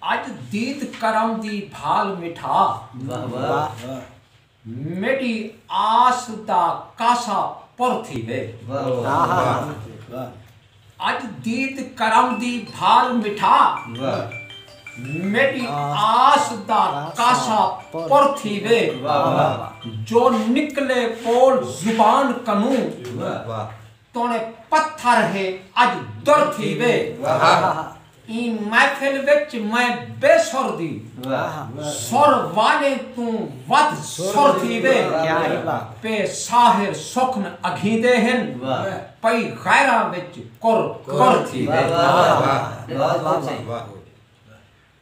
اج دید کرم دی بھال مٹھا۔ میڈی آس دا کاسا پر تھیوے۔ اج دید کرم دی بھال مٹھا۔ میڈی آس دا کاسا پر تھیوے۔ جو نکلے بول زبان کنوں۔ توݨے پتھر ہے اڄ در تھی وے ایں محفل وچ میں بے سر دی سر والیں توں ودھ سر تھی وے پے ساحر سخن اگھیندے ہن پئی غیراں وچ کر کر تھی وے۔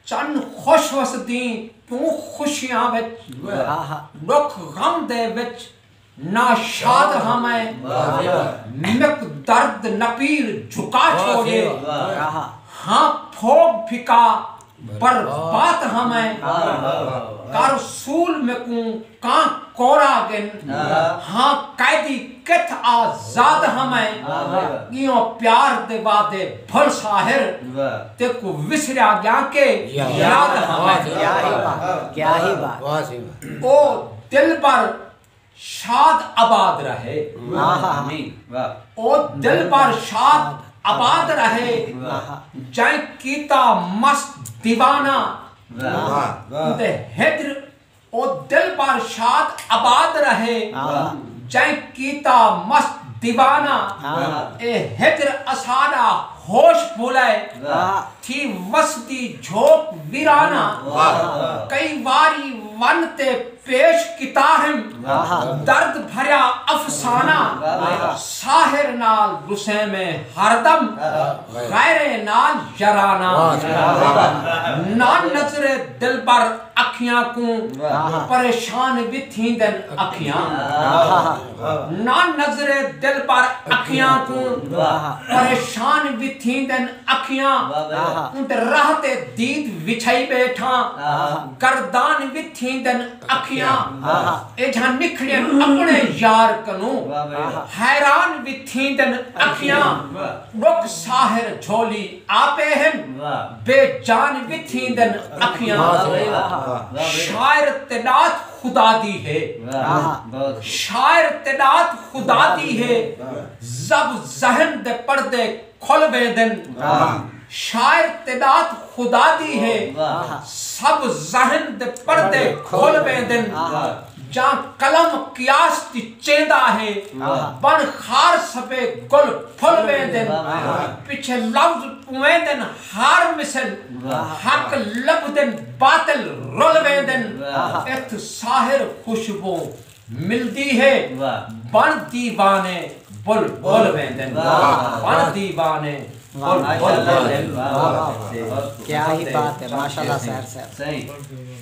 چن خوش وسدیں کیوں خوشیاں وچ ڈکھ غم دے وچ نا شاد ہاں میں مک درد نپیر جھکا چھوڑے ہاں پھوگ پھکا برباد ہاں میں کر سول میکوں کاں کورا گن ہاں قیدی کتھ آ زاد ہاں میں گیوں پیار دے وعدے بھل ساحر تیکوں وسریا گیاں کے یاد ہاں میں او دلبر شاد آباد رہے او دلبر شاد آباد رہے جئیں کیتا مست دیوانہ اندے ہجر او دلبر شاد آباد رہے جئیں کیتا مست دیوانہ اے ہجر اساݙا ہوش بھلئے تھی وسدی جھوک ویرانہ کئی واری ون تے پیش کیتاہم درد بھریا افسانہ ساحر نال وسیمیں ہردم غیریں نال یرانہ نہ نظر دلبر اکھیاں کوں پریشان وی تھیندن اکھیاں نہ نظرے دلبر اکھیاں کوں پریشان وی تھیندن اکھیاں اونتے راہ تے دید وچھائی بیٹھاں گردان وی تھیندن اکھیاں ایجھاں نکھڑین اپنے یار کنوں حیران وی تھیندن اکھیاں ڈکھ ساحر جھولی آپے ہن بے جان وی تھیندن اکھیاں شاعر تے ڈات خدا دی ہے شاعر تے ڈات خدا دی ہے زب ذہن دے پردے کھل ویندن شاعر تے ڈات خدا دی ہے سب ذہن دے پردے کھل ویندن جاں قلم قیاس دی چیندا ہے بݨ خار سبھے گل پھل ویندن پچھے لفظ پویندن ہار مثل حق لبھدن باطل رل ویندن اتھ ساحر خوشبو ملدی ہے بݨ دیوانے بل بل ویندن بݨ دیوانے بل بل ویندن۔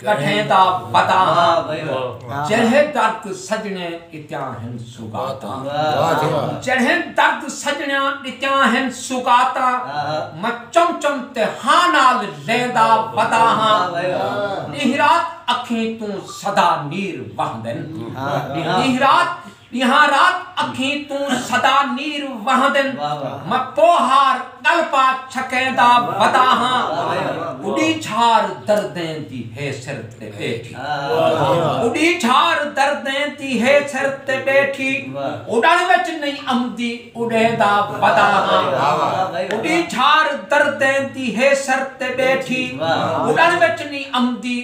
کٹھیں دا پتہ ہاں جڑہیں درد سجنڑیں ڈتیاں ہن سوغاتاں جڑہیں درد سجنڑیاں ڈتیاں ہن سوغاتاں میں چم چم تے ہاں نال لیندا ودا ہاں ڈینہہ رات اکھیں توں سدا نیر وہندن ڈینہہ رات ݙینہاں رات اکھیں توں سدا نیر وہندن میں پوہار ڳل پا چھکیں دا بدا ہاں اݙی جھار دردیں دی ہے سر تے ٻیٹھی اݙی جھار دردیں دی ہے سر تے ٻیٹھی اݙݨ وچ نئیں امدی اݙیں دا بدا ہاں اݙی جھار دردیں دی ہے سر تے ٻیٹھی اݙݨ وچ نئیں امدی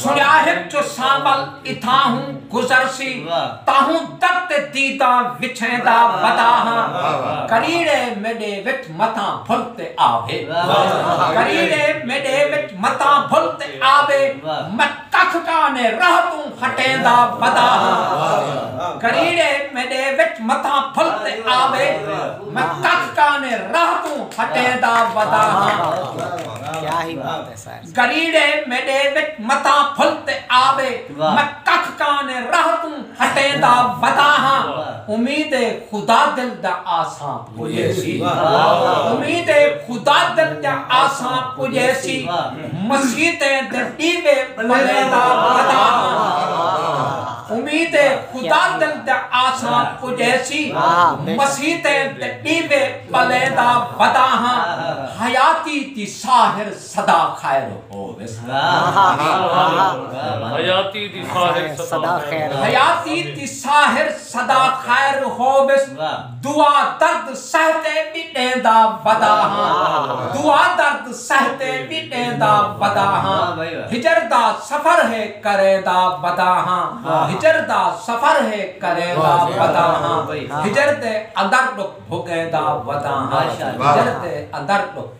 سنیاہک جو سانول اتھاہوں گزر سی تاہوں در تے دیداں وچھیندا ودا ہاں کریڑے میڈے وچ متاں بھل تے آوے کریڑے میڈے وچ متاں بھل تے آوے میں ککھ کانے راہ توں ہٹیندا ودا ہاں کریڑے میڈے وچ متاں بھل تے آوے میں ککھ کانے راہ توں ہٹیندا ودا ہاں گریڑے میݙے وچ متاں پھل تے آوے میں ککھ کانے راہ توں ہٹیندا ودا ہاں امید اے خدا دل دا آساں پجیسی امید اے خدا دل دا آساں پجیسی مسیتیں دے ݙیوے ٻلیندا ودا ہاں امید اے خدا دل دا آساں پجیسی مسیتیں دے ݙیوے ٻلیندا ودا ہاں حیاتی دی ساحر سدا خیر ہوویس حیاتی دی ساحر سدا خیر حیاتی دی ساحر سدا خیر ہوویس دعا درد سہتے بھی دیندا ودا ہاں دعا درد سہتے بھی دیندا ودا ہاں ہجر دا سفر ہے کرے دا ودا ہاں ہجر دا سفر ہے کرے دا ودا ہاں ہجر دے اندر ڈک بھگے دا ودا ہاں ہجر دے اندر ڈک